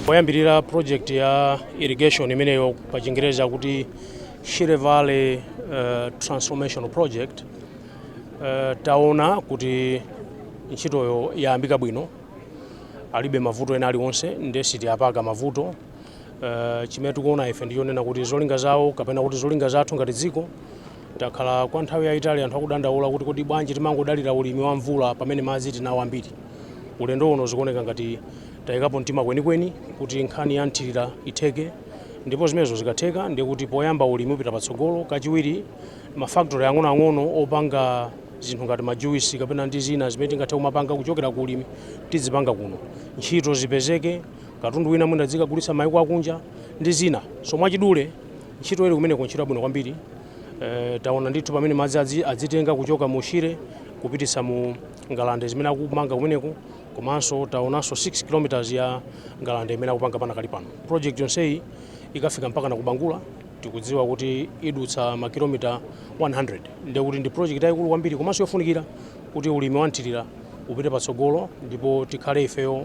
poyambilira project ya irrigation imeneyo pa chingereza kuti Shire Valley uh, transformational project uh, taona kuti ntchitoyo yayambika bwino alibe mavuto ena aliwonse ndiye siti yapaka mavuto Uh, chimene tikuona ife ndichonena kuti zolinga zawo kapena kuti zolinga zathu ngati dziko takhala kwa nthawi yayitali anthu akudandaula kuti kodi bwanji timangodalira ulimi wa mvula pamene madzi tinawo ambiri ulendo uno zikuoneka ngati tayikapo mtima kwenikweni kuti nkhani ya mthirira itheke ndipo zimenezo zikatheka ndiye kuti poyamba ulimi upita patsogolo kachiwiri mafaktori ang'onoang'ono opanga zinthu ngati majuisi kapena ndi zina zimene tingathe kumapanga kuchokera ku ulimi tidzipanga kuno ntchito zipezeke katundu wina mwina tizikagulitsa maiko akunja ndi zina so mwachidule ntchito ili kumeneko ntchito yabwino kwambiri e, taona ndithu pamene madzi adzi, adzitenga kuchoka mu Shire kupititsa mu ngalande zimene akumanga kumeneko komanso taonanso 6 kilometers ya ngalande imene akupanga pana kali pano project yonseyi ikafika mpaka na ku Bangula tikudziwa kuti idutsa makilomita 100 ndiye kuti ndi project yayikulu kwambiri komanso yofunikira kuti ulimi wa mthirira upite patsogolo ndipo tikhale ifeyo